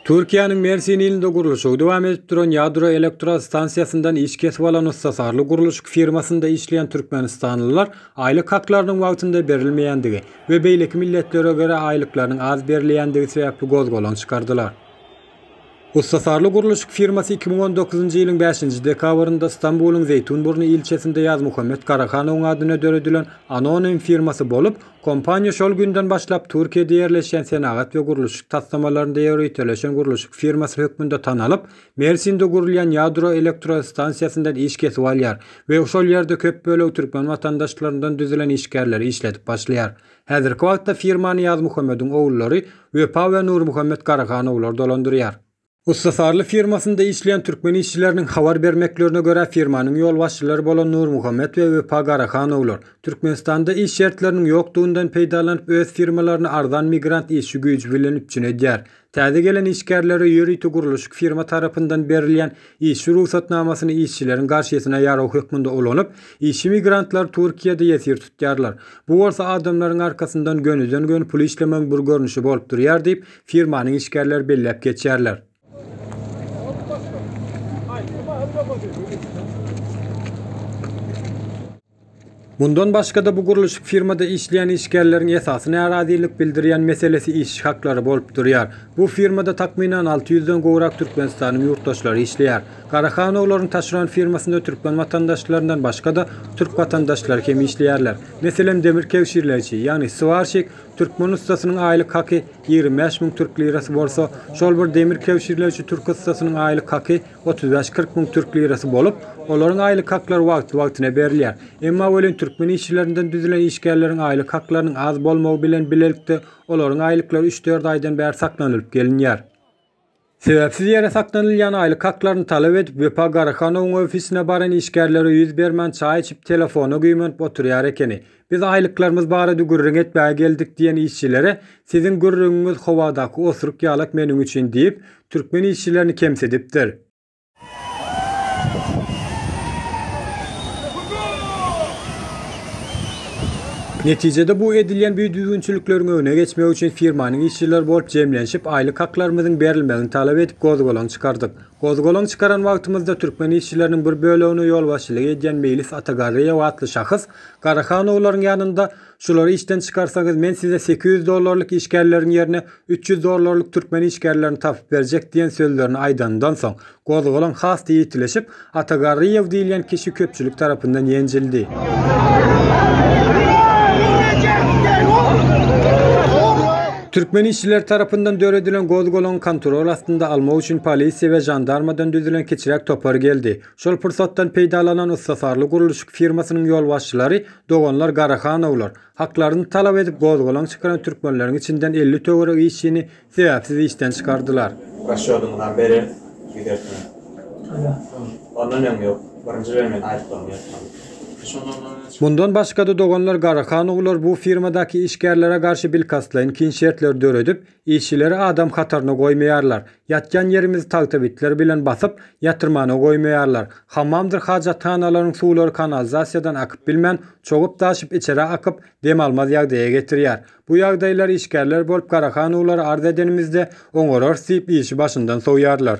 Türkiýäniň Mersin ilinde gurluşygy dowam edip duran ýadro elektrostansiýasyndan iş kesip alan ussasarly gurluşyk firmasynda işleýän türkmenistanlylar aýlyk haklarynyň wagtynda berilmeýändigi, we beýleki milletlere görä aýlyklarynyň az berilýändigi sebäpli gozgalaň çykardylar. Ussatarly gurluşyk firmasy iki müň on dokuzynjy ýylyň bäşinji dekabrynda Stambulyň Zeýtunburny ilçesinde Ýazmuhammet Garahanowyň adyna döredilen anonim firmasy bolup, kompaniýa şol günden başlap Türkiýede ýerleşýän senagat we gurluşyk taslamalarynda ýöriteleşen gurluşyk firmasy hökmünde tanalyp, Mersinde gurulýan ýadro elektrostansiýasyndan iş kesip alýar we şol ýerde köp bölegi türkmen watandaşlaryndan düzülen işgärleri işledip başlaýar. Häzirki wagtda firmany Ýazmuhammediň ogullary Wepa we Nurmuhammet Garahanowlar dolandyrýar. Ussasarly firmasynda işleýän türkmen işçileriniň habar bermeklerine görä, firmanyň ýolbaşçylary bolan Nurmuhammet we Wepa Garahanowlar Türkmenistanda iş şertleriniň ýokdugyndan peýdalanyp öz firmalaryny arzan migrant işçi güýji bilen üpjün edýär. Täze gelen işgärlere ýörite gurluşyk firma tarapyndan berilýän işçi rugsatnamasyny işçileriň garşysyna ýarag hökmünde ulanyp, işçi migrantlar Türkiýede ýesir tutýarlar. Bu bolsa adamlaryň arkasyndan gönüden-göni pul işlemegiň bir görnüşi bolup durýar diýip, firmanyň işgärleri belläp geçýärler. Mundan başga-da bu gurluşyk firmada işleýän işgärleriň esasy närazylyk bildirýän meselesi iş haklary bolup durýar. Bu firmada takmynan alty ýüzden gowrak Türkmenistanyň ýurtdaşlary işleýär. Garahanowlaryň taşeron firmasynda türkmen watandaşlaryndan başga-da türk watandaşlary hem işleýärler. Meselem, demir kebşirleýji, ýagny swarşik, türkmen ussasynyň aýlyk haky ýigrimi bäş müň türk lirasy bolsa, şol bir demir kebşirleýji türk ussasynyň aýlyk haky, Otuz bäş, kyrk müň türk lirasy bolup, olaryň aýlyk haklary wagtly-wagtyna berilýär. Emma welin türkmen işçilerinden düzülen işgärleriň aýlyk haklarynyň az bolmagy bilen bilelikde olaryň aýlyklary üç-dört aýdan bäri saklanylyp gelinýär. Sebäpsiz ýere saklanylýan aýlyk haklaryny talap edip Wepa Garahanowyň ofisine baran işgärlere ýüz bermän çaý içip telefona güýmenip oturýar ekeni. Biz aýlyklarymyz barada gürrüň etmäge geldik diýen işçilere Siziň gürrüňiňiz howadaky osuruk ýalak meniň üçin diýip, türkmen işçilerini kemsidipdir. Netijede bu edilýän bidüzgünçilikleriň öňüne geçmek üçin firmanyň işçileri bolup jemlenşip, aýlyk haklarymyzyň berilmegini talap edip gozgalaň çykardyk. Gozgalaň çykaran wagtymyzda türkmen işçileriniň bir bölegine ýolbaşçylyk edýän Meýlis Atagarryýew atly şahs, Garahanowlaryň ýanynda, Şulary işden çykarsaňyz, men size sekiz ýüz dollarlyk işgärleriň ýerine üç ýüz dollarlyk türkmen işgärlerini tapyp berjek diýen sözlerini aýdanyndan soň, gozgalaň has-da ýitileşip, Ata Garryýew diýilýän kişi köpçülik tarapyndan ýenjildi. Türkmen işçileri tarapyndan döredilen gozgalaňy kontrol astynda almak üçin polisiýa we žandarmadan düzülen kiçiräk topar geldi. Şol pursatdan peýdalanan ussasarly gurluşyk firmasynyň ýolbaşçylary doganlar Garahanowlar, haklaryny talap edip gozgalaň çykaran türkmenleriň içinden elli töweregi işçini sebäpsiz işden çykardylar. Raşýodymyzam bereris, gidersiňiz. Ondan öň ýok. Birinji bilen men aýyplarymy ýatyraryn. Mundan başga-da doganlar Garahanowlar bu firmadaky işgärlere garşy bilkastlaýyn kyn şertleri döredip, Işçileri adam hataryna goýmaýarlar. Ýatýan ýerimizi tagtabitler bilen basyp, ýatyrmana goýmaýarlar. Hammamdyr hajathanalaryň suwlary kanalizasiýadan akyp bilmän, çogup-daşyp içerä akyp, dem almaz ýagdaýa getirýär. Bu ýagdaýlary işgärler bolup garahanowlara arz edenimizde, oňararys diýip işi başyndan sowýarlar.